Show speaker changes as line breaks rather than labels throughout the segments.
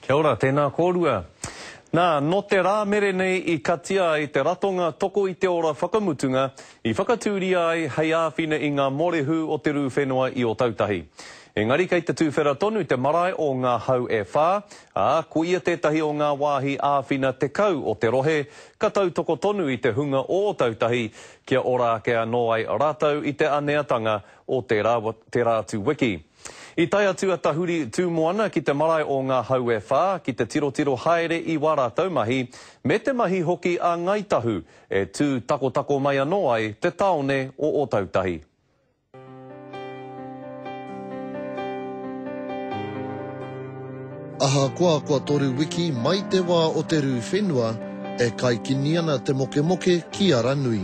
Kia ora, tēnā kōrua. Nā, nō te rā mere nei i katia ai te ratonga Toko i te Ora whakamutunga i whakatūria ai hei āwhina i ngā mōrehu o te rū whenua i Ōtautahi. Engari kei te tuwhera tonu te marae o Ngā Hau e Whā, ā, ko ia tētahi o ngā wāhi āwhina tekau o te rohe ka tautoko tonu i te hunga o Ōtautahi kia ora ake anō ai rātou i te aneatanga o tērā, tērā atu wiki. I tae atu a Tahuri Tūmoana ki te marae o Ngā Hau e Whā ki te tirotiro haere i wā rātou mahi, me te mahi hoki a Ngāi Tahu e tū takotako mai anō ai te tāone o Ōtautahi.
Ahakoa kua toru wiki mai te wā o te rū whenua, e kaikini ana te mokemoke ki Aranui.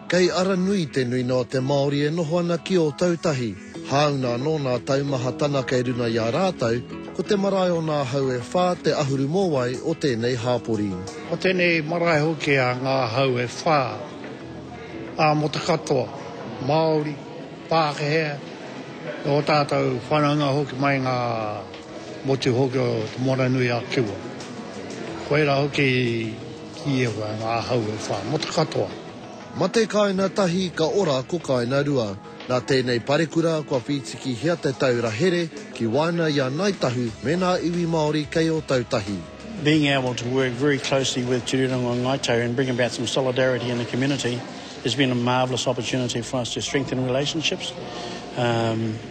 Kei Aranui
te nuina o te Māori e noho ana ki Ōtautahi. Hāuna anō nā taumaha tana kei runga i a rātou, ko te marae o nā hau e whā te ahuru mōwai o tēnei hāpori. Ko tēnei
marae hoki a ngā hau e whā, ā, mō te katoa, Māori, Pākehea, me ō tātou whanaunga hoki mai i ngā motu hoki o Te Moana-nui-a-Kiwa. Koirā hoki i kīia koe ngā hau e whā, mō te katoa. Mate
kāina tahi ka ora ko kāina rua. Nā tēnei parekura kua whītikihia te taura here ki waena i a Ngāi Tahu me nā iwi Māori kei Ōtautahi. Being able to
work very closely with Te Rūnanga o Ngāi Tahu and bring about some solidarity in the community has been a marvellous opportunity for us to strengthen relationships.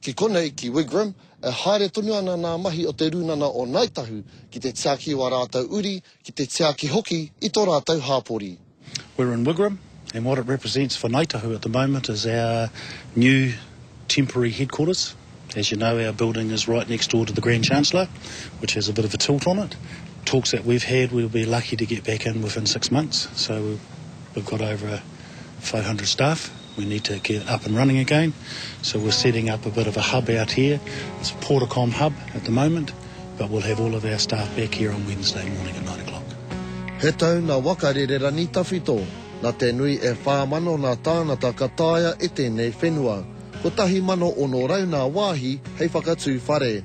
Ki konei, ki Wigram, e haere tonu ana nā mahi o Te Rūnana o Ngāi Tahu ki te tiaki i wā rātou uri, ki te tiaki hoki i tō rātou hāpori. We're in Wigram
and what it represents for Ngāi Tahu at the moment is our new temporary headquarters. As you know our building is right next door to the Grand Chancellor which has a bit of a tilt on it. Talks that we've had we'll be lucky to get back in within six months so we've got over 500 staff. We need to get up and running again, so we're setting up a bit of a hub out here, it's a Portacom hub at the moment, but we'll have all of our staff back here on Wednesday morning at nine o'clock. He tau na
waka rere rangi tawhito, na te nui e wha mano na tānata ka taea e tēnei whenua. Kotahi mano ono rau nā wāhi hei whakatū whare.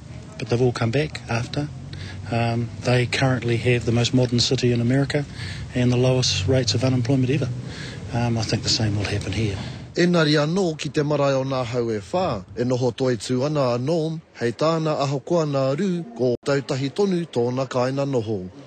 But they've all come back after. Um, they currently have the most modern city in America and the lowest rates of unemployment ever. Um, I think the same will happen here. Engari anō
ki te marae o nā hau e whā, e noho toitū ana a Norm, hei tāna ahakoa nā Rū, kō tautahi tonu tōna kāina noho.